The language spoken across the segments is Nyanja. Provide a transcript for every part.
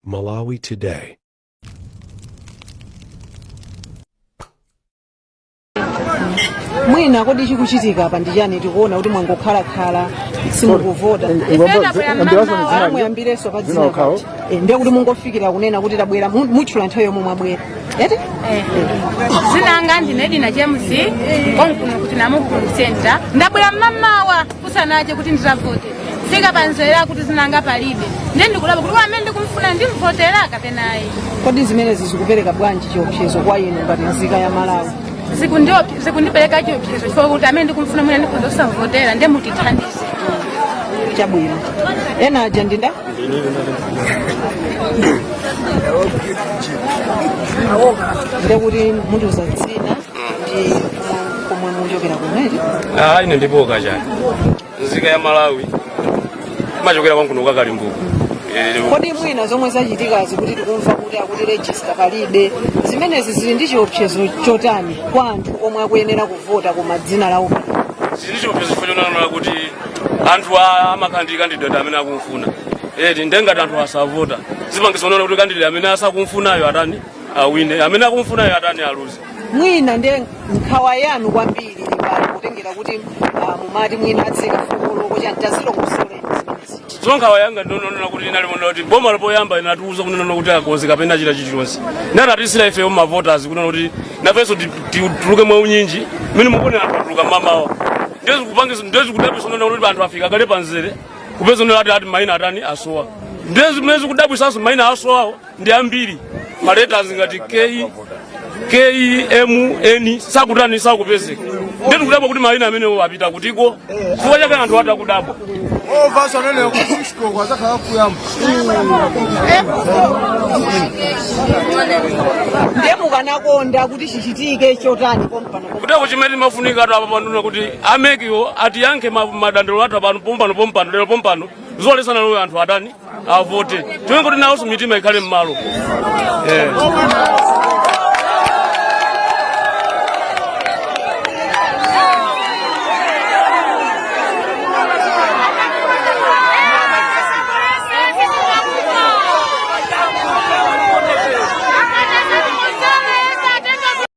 Malawi Today. mwina kodi chikuchitika apa ndi chani tikuona kuti mwangokhalakhala simukuvota Ah, muyambirenso pa dzina kuti Eh, ndiye kuti mungofikira kunena kuti tabwera mu- mutchula nthawi yomwe mwabwera eti dzina langa ndine dina james konkuno ku namukukulu center ndabwera mmamawa kusanache kuti ndizavote ndafika pamzere akuti dzina langa palibe ndiye ndikudabwa kuti amene ndikumfuna ndimvotera kapena ayi kodi zimenezi zikupereka bwanji chiopsezo kwa inu ngati nzika ya malawi Zikundiop- zikundipereka chiopsezo chifukwa kuti amene ndikumfuna mwina ndikhoza kusavotera ndiye mutithandize chabwino ena aja ndinda ndekuti mutiuza dzina komwe muchokera kumene Ah, ine ndipo kachani nzika ya malawi ndimachokera konkuno kwa kalimbuku Eh, kodi mwina zomwe zachitikazi kuti tikumva kuti akuti regista palibe zimenezi zili ndi chiopsezo chotani kwa anthu omwe akuyenera kuvota koma dzina lawo zili chiopsezo chifukwa chonena kuti anthu a- ali ndi ma candidate amene akumfuna eti ndengati anthu asavota zipangitsa kunena kuti candidate amene asakumfunayo atani awine amene akumufunayo atani aluze mwina ndiye nkhawa yanu kwambiri pali kutengera kuti ah, mumati mwina atsika 4 koloko chani tazilongosolani zimenezi so nkhawa yanga ndi yonena kuti inali monena kuti boma lopoyamba inatiuza kunena kuti akonzeka pena chita chilichonse natiyitanira ifeyo mavoters kunena kuti nafenso ti- ti- tuluke mwa unyinji mene mukuonera anthu atuluka mamawa nde zikudabwisa kunena kuti anthu afika kale pamzere kupeza kunena kuti ati maina atani asowa nde zimene zikudabwisanso maina asowawo ndi ambiri ma letters ngati K M N sakutani sakupezeka nde tikudabwa kuti maina amenewo apita kutiko chifukwa chake anthu atani akudabwa ndiye mukanakonda kuti chichitike chotani pompano kutereko chimene timafunika ati apa pano ndi kuti a MEC-wo atiyankhe ma- madandaulo athu apano pompano pompano lero pompano zolesana leroyo anthu atani avote tione kuti nawonso mitima ikhale m'malo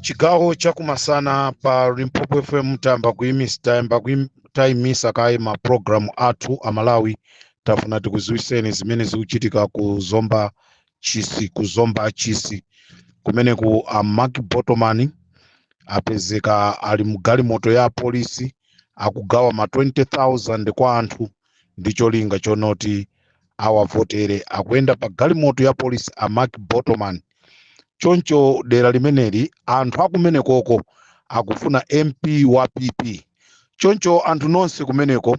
chigawo chakumasana pa limpopo fm tayamba kuimisa tayamba kuim- tayimisa kaye ma program athu amalawi tafuna tikuziwiseni zimene zikuchitika ku zomba chisi ku zomba chisi kumeneku a Mark Botomani apezeka ali mgalimoto ya apolisi akugawa ma 20000 kwa anthu ndi cholinga chonoti awavotere akuyenda pa galimoto ya polisi a mark botomani choncho dera limeneli anthu akumenekoko akufuna mp wa pp choncho anthu nonse kumeneko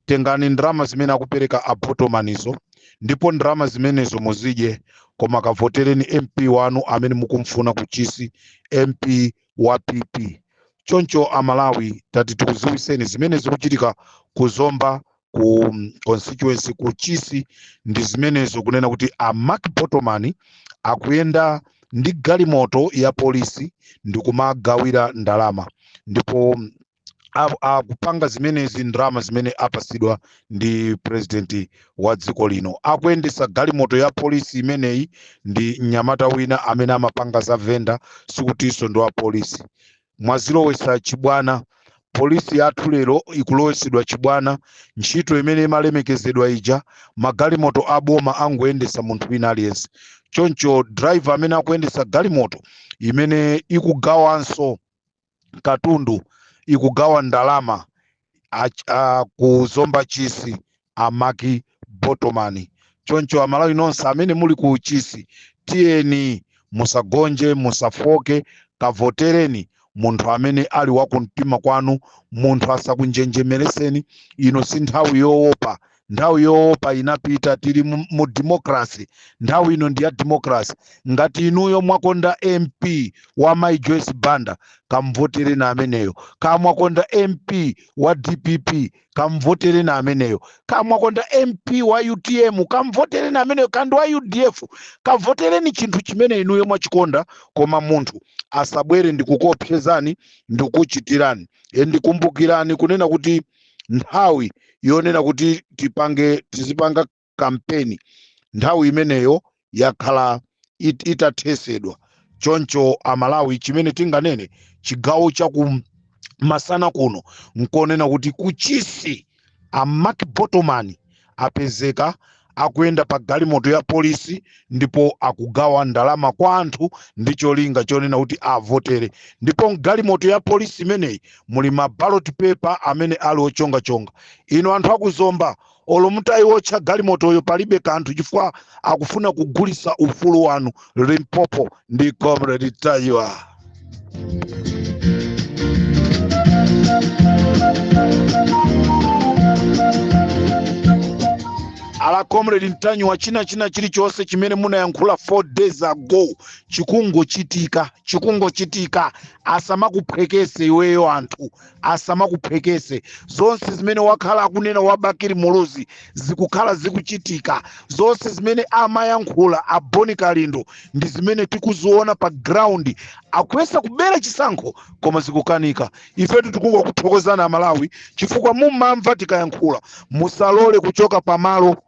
tengani ndalama zimene akupereka a botomanizo ndipo ndalama zimenezo muzidye koma kavotereni mp wanu amene mukumfuna kuchisi mp wa pp choncho amalawi tati tikuziwiseni zimene zikuchitika ku zomba ku mm, constituency ku chisi ndi zimenezo kunena kuti a mark botomani akuyenda ndi galimoto ya polisi ndikumagawira ndalama ndipo mm, a- akupanga zimenezi ndalama zimene apasidwa ndi president wa dziko lino akuyendesa galimoto ya polisi imeneyi ndi mnyamata wina amene amapanga za venda sikutinso ndi wa polisi mwazilowesa chibwana polisi yathu lero ikulowesedwa chibwana ntchito imene imalemekezedwa ija magalimoto aboma angoyendesa munthu wina aliyense choncho driver amene akuyendesa galimoto imene ikugawanso katundu ikugawa ndalama ach- a- ku zomba chisi a mark botomani choncho amalawi nonse amene muli ku chisi tiyeni musagonje musafooke kavotereni munthu amene ali wakumtima kwanu munthu asakunjenjemereseni ino si nthawi yowopa nthawi yoopa inapita tili mu, mu democracy nthawi ino ndi ya democracy ngati inuyo mwakonda mp wa mai joyce banda kamvotereni ameneyo kaya mwakonda mp wa dpp kamvotereni ameneyo kaya mwakonda mp wa utm kamvotereni ameneyo kaya ndi wa udf kavotereni chinthu chimene inuyo mwachikonda koma munthu asabwere ndikukuopsezani ndikukuchitirani e ndikumbukirani kunena kuti nthawi yonena kuti tipange tizipanga kampeni nthawi imeneyo yakhala it, itathesedwa choncho amalawi chimene tinganene chigawo cha ku masana kuno nkunena kuti kuchisi a mark botomani apezeka akuyenda pa galimoto ya polisi ndipo akugawa ndalama kwa anthu ndi cholinga chonena kuti awavotere ndipo mgalimoto ya polisi imeneyi muli ma ballot paper amene ali ochongachonga inu anthu akuzomba olo mutayiwotcha galimotoyo palibe kanthu chifukwa akufuna kugulisa ufulu wanu limpopo ndi comrade mtanyiwa ala comrade mtanyiwa china china chilichonse chimene munayankhula 4 days ago chikungochitika chikungochitika asamakuphwekese iweyo anthu asamakuphwekese zonse zimene wakhala akunena a bakili muluzi zikukhala zikuchitika zonse zimene amayankhula a boni kalindo ndi zimene tikuziona pa ground akuyesa kubera chisankho koma zikukanika ifetu tikungokuthokozani amalawi chifukwa mumamva tikayankhula musalole kuchoka pamalo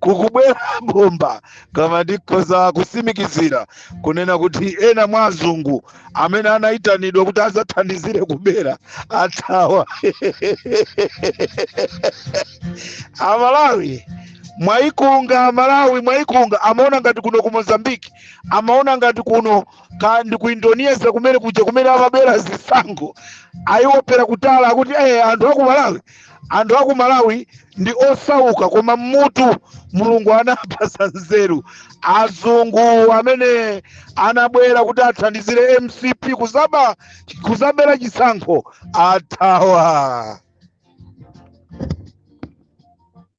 kukubwera bomba kama ndikhoza kusimikizira kunena kuti ena mwa azungu amene anayitanidwa kuti azathandizire kubera athawa amalawi mwayikunga amalawi mwayikunga amaona ngati kuno nku mozambiki amaona ngati kuno kaya ndi ku indonesia kumene kuja kumene amabera zisankho ayiwopera kutali akuti eh anthu aku malawi anthu aku malawi ndi osauka koma mmutu mulungu anawapasa nzeru azungu amene anabwera kuti athandizire mcp kuzaba kuzabera chisankho athawa